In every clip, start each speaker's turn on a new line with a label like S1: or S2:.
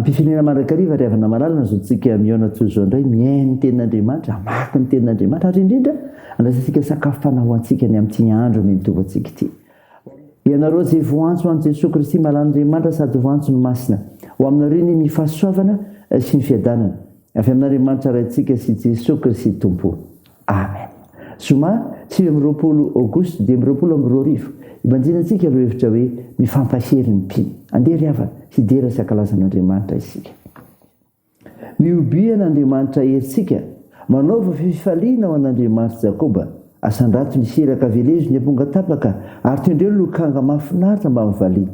S1: Ampifinina mandrakariva ry havana malalina izao tsika mihaona toy izao indray mihaino ny tenin'Andriamanitra, hamaky ny tenin'Andriamanitra ary indrindra andraisantsika sakafo fanahy ho antsika ny amin'ity andro anie mitovy antsika ity. Ianareo izay voantso ho an'i Jesoa Kristy Malan'Andriamanitra sady voantso ny Masina, ho aminareo anie ny fahasoavana sy ny fiadanana avy amin'Andriamanitra Raintsika sy Jesoa Kristy Tompo. Amen. Zoma sivy amby roapolo Aogositra dimy amby roapolo amby roa arivo, ibanjinantsika lohahevitra hoe Mifampahery ny mpino. Andeha ry havana, hidera sy hankalaza an'Andriamanitra isika. Mihobia an'Andriamanitra herintsika, manaova fifaliana ho an'Andriamanitr'i Jakoba. Asandrato ny siraka, velezo ny amponga tapaka, ary tendreo ny lokanga mahafinaritra mbamin'ny valiha.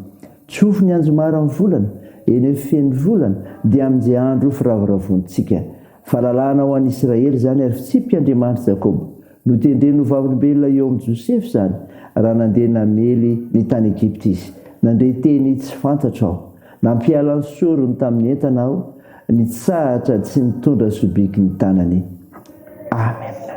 S1: Tsofy ny anjomara amin'ny volana, eny amin'ny fen'ny volana, dia amin'izay andro ho firavoravoantsika. Fahalalahana ho an'i Isiraely izany ary fitsipiky Andriamanitry Jakoba. Notendreny ho vavolombelona eo amin'i Josefa izany raha nandeha namely ny tany Egypta izy. Nandre teny tsy fantatro aho. Nampiala ny sorony tamin'ny entana aho, nitsahatra tsy nitondra sobiky ny tanany. Amena.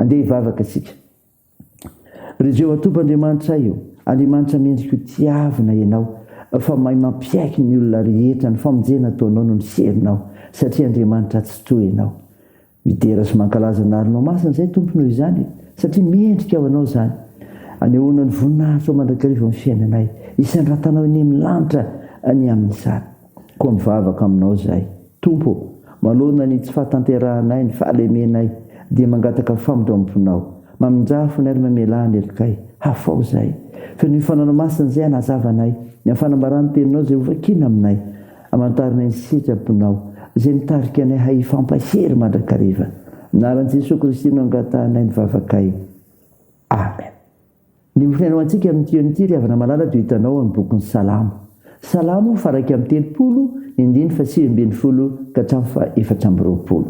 S1: Andeha hivavaka isika. Ry Jehovah Tompoandriamanitray ô, Andriamanitra mendriko tiavina Ianao, fa mahay mampiaiky ny olona rehetra, ny famonjena ataonao no niserinao, satria Andriamanitra tsy toa Ianao. Midera sy mankalaza ny Arinao Masina izahay Tompo noho izany e, satria mendrika ho Anao izany. Anehoana ny voninahitrao mandrakariva amin'ny fiainanay, isandratanao eny amin'ny lanitra ny amin'izany. Koa mivavaka aminao izahay. Tompo ô, manoloana ny tsy fahatanterahanay ny fahalemenay, dia mangataka famindram-ponao. Mamindrà fonay ary mamelà ny helonkay. Hafao izahay. Fenoy Fanaonao Masina izay hanazava anay. Ny amin'ny fanambarà ny Teninao izay hovakina aminay. Amantarinay ny sitraponao, izay mitarika anay hahifampahery mandrakariva. Amin'ny anaran'i Jesoa Kristy no angatahanay ny vavakay. Amen. Ny mifinaina ho antsika amin'ity eo amin'ity, ry havana malala, dia ho hitanao ao amin'ny bokin'ny Salamo. Salamo faha iraika amby telopolo, indimy faha sivy ambin'ny folo ka hatramin'ny faha efatra amby roapolo.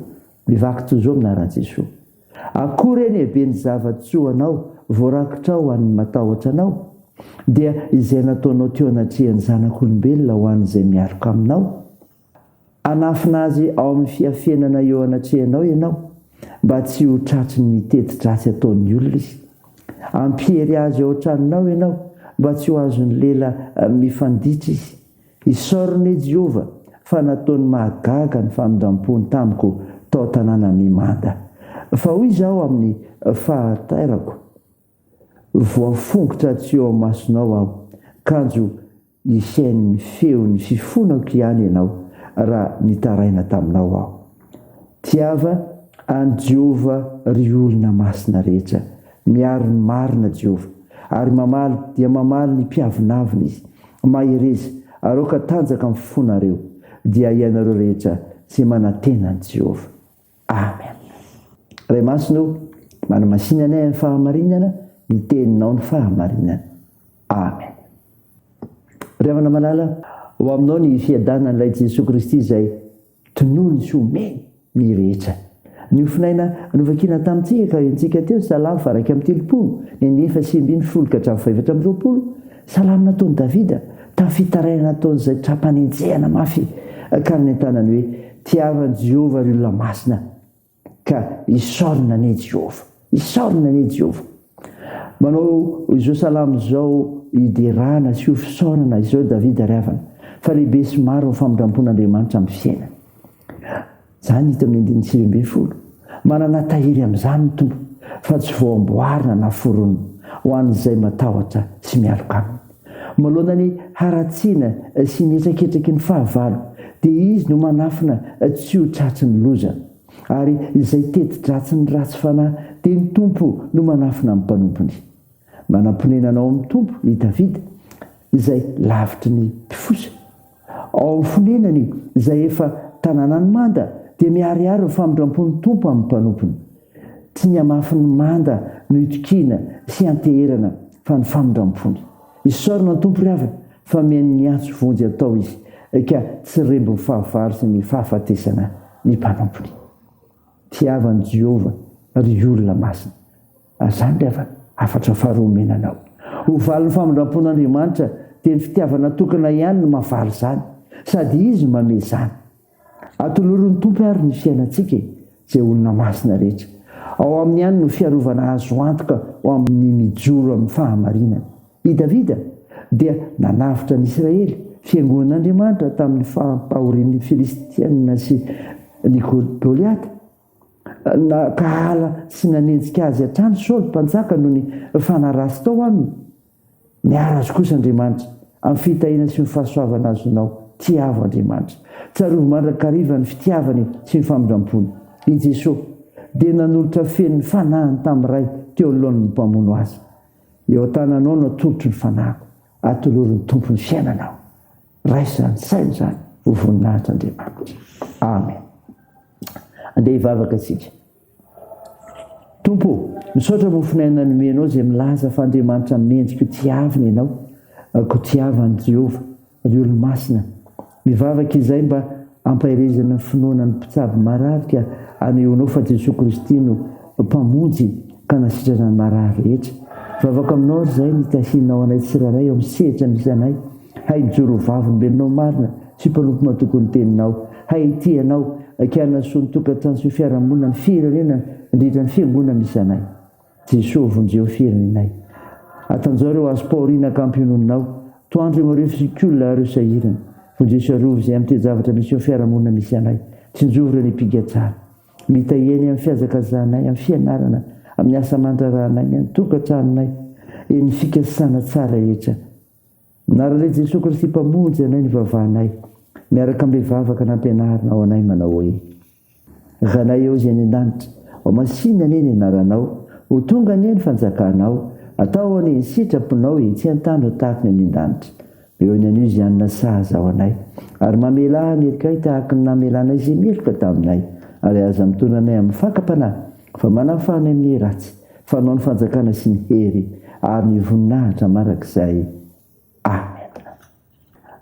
S1: Mivaky toy izao amin'ny anaran'i Jesoa. Akory anie habe ny zava-tsoa anao, voarakitra ho an'ny matahotra anao, dia izay nataonao teo anatrehan'ny zanak'olombelona ho an'izay mialoka aminao. Hanafina azy ao amin'ny fiafenana eo anatrehanao ianao, mba tsy ho tratry ny teti-dratsy ataon'ny olona izy. Hampiery azy ao an-tranonao ianao, mba tsy ho azon'ny lela mifanditra izy. Isaoriny anie Jehovah, fa nataony mahagaga ny famindram-pony tamiko tao tanàna mimanda. Fa hoy izaho amin'ny fahatairako, Voafongotra tsy eo amasonao aho, kanjo Nisian'ny feon'ny fifonako ihany ianao raha nitaraina taminao aho. Tiava an'i Jehovah ry olona masina rehetra. Miaro ny marina Jehovah, ary mamaly dia mamaly ny mpiavonavona izy. Mahereza, aroaka tanjaka ny fonareo, dia ianareo rehetra izay manantena an'i Jehovah. Amen. Ray Masina o, manamasina anay amin'ny fahamarinana, ny teninao ny fahamarinana. Amen. Ry havana malala, ho aminao ny fiadanan'ilay Jesoa Kristy izay tonony sy omeny ny rehetra. Niofonaina novakina tamintsika ka entsika teo ny Salamo faha iraika amby telopolo, ny an'ny efa sy ambin'ny folo ka hatramin'ny faha efatra amby roapolo, Salamo nataon'i Davida, tamin'ny fitarainana ataon'izay tra-panenjehana mafy, ka nanentanany hoe, Tiavan'i Jehovah ry olona masina, ka isaorina anie i Jehovah. Isaorina anie i Jehovah. Manao izao salamo izao hiderana sy ho fisaorana izao i Davida ry havana, Fa lehibe sy maro ny famindram-pon'Andriamanitra amin'ny fiainany. Izany hita amin'ny andininy sivy ambin'ny folo. Manana tahiry amin'izany ny Tompo, fa tsy voamboarina na foronina, ho an'izay matahotra sy mialoka Aminy. Manoloana ny haratsiana sy ny hetraketraky ny fahavalo, dia Izy no manafina tsy ho tratry ny loza. Ary izay teti-dratsy ny ratsy fanahy, dia ny Tompo no manafina ny mpanompony. Manam-ponenana ao amin'ny Tompo i Davida, izay lavitry ny mpifosa. Ao fonenany, izay efa tanànan'ny manda, dia miharihary ny famindrampon'ny Tompo amin'ny mpanompony. Tsy ny hamafin'ny manda no itokiana sy ianteherana fa ny famindrampony. Isaorana ny Tompo ry havana fa mihaino ny antso vonjy atao Izy ka tsy rembin'ny fahavalo sy ny fahafatesana ny mpanompony. Tiavan'i Jehovah ry olona masina. Azany ilay hafatra faharoa omena anao. Ho valin'ny famindram-pon'Andriamanitra, dia ny fitiavana tokana ihany no mahavaly izany, sady Izy no manome izany. Atolorin'ny Tompo àry ny fiainantsika e! izay olona masina rehetra. Ao Aminy ihany no fiarovana azo antoka ho amin'ny mijoro amin'ny fahamarinana. I Davida dia nanavotra ny Israely, fiangonan'Andriamanitra, tamin'ny fampahorian'ny Filistiana sy ny Goliata. Nankahala sy nanenjika azy hatrany Saoly mpanjaka noho ny fanaraha-sy tao aminy. Miaro azy kosa Andriamanitra, amin'ny fitahiana sy ny fahasoavana azonao. Tiavo Andriamanitra. Tsarovy mandrakariva ny fitiavany sy ny famindrampony. I Jesosy dia nanolotra feno ny fanahiny tamin'ny Ray teo anoloan'ny mpamono Azy. Eo an-tananao no atolotro ny fanahiko. Atolory ny Tompo ny fiainanao. Raisa an-tsaina izany ho voninahitr'Andriamanitra. Amen. Andeha hivavaka isika. Tompo, misaotra mofonay nanomenao izay milaza fa Andriamanitra mendrika tiavina ianao. Kotiavan'i Jehovah, ry olo-masina. Mivavaka izay mba Ampaherezana ny finoana ny mpitsabo marary ka anehoanao fa Jesoa Kristy no Mpamonjy ka nasitrana ny marary rehetra. Vavaka aminao ary izahay ny tahianao anay tsirairay ao amin'ny sehatra misy anay. Hay mijoro ho vavolombelonao marina sy mpanompo matoky ny teninao. Hay hitia anao ka hanasoa ny tokantrano sy ny fiarahamonina, ny firenena, indrindra ny fiangonana misy anay. Jesoa vonjeo firenenay. Atanjaho ireo azo paorina ka ampiononinao. Toandro eo ireo fisikolona ireo sahirana. Vonjeo sy arovy izay amin'ny toe-javatra misy eo fiarahamonina misy anay. Tsinjovy ireo nipigatsana. Mitahiry anay amin'ny fihazakazahanay, amin'ny fianarana, amin'ny asa aman-draharahanay, ny an-tokatranonay, eny fikasana tsara rehetra. Narale Jesoa Kristy Mpamonjy anay nivavahanay miaraka amin'ny vavaka nampianarinao anay manao hoe, Zanay ao izay any an-danitra, ho masìna anie ny anaranao, ho tonga anie ny fanjakanao, atao anie ny sitraponao etsy an-tany ho tahaka ny any an-danitra. Eo ihany anio izany nasahaza ho anay, ary mamelà ny helokay tahaka ny namelanay izay meloka taminay, ary aza mitondra anay amin'ny fakam-panahy, fa manafanay amin'ny ratsy. Fanao ny fanjakana sy ny hery ary ny voninahitra mandrakizay. Amena.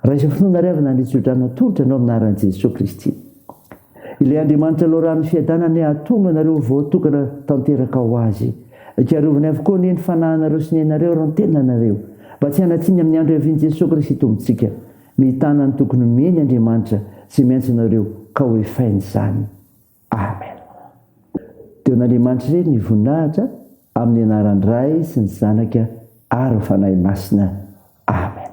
S1: Raiso finoana ry havana any Joda natolotra anao amin'ny anaran'i Jesoa Kristy. Ilay Andriamanitra loharanon'ny fiadanana hahatonga anareo ho voatokana tanteraka ho Azy. Karovany avokoa anie ny fanahinareo sy ny ainareo ary ny tenanareo mba tsy hanatsiny amin'ny andro hiavian'i Jesoa Kristy Tompontsika. Mitana ny tokony homeny Andriamanitra izay miantso anareo ka hoefainy izany. Amen. Deo n'Andriamanitry re ny voninahitra amin'ny anaran Ray sy ny Zanaka ary ny Fanahy Masina. Amen.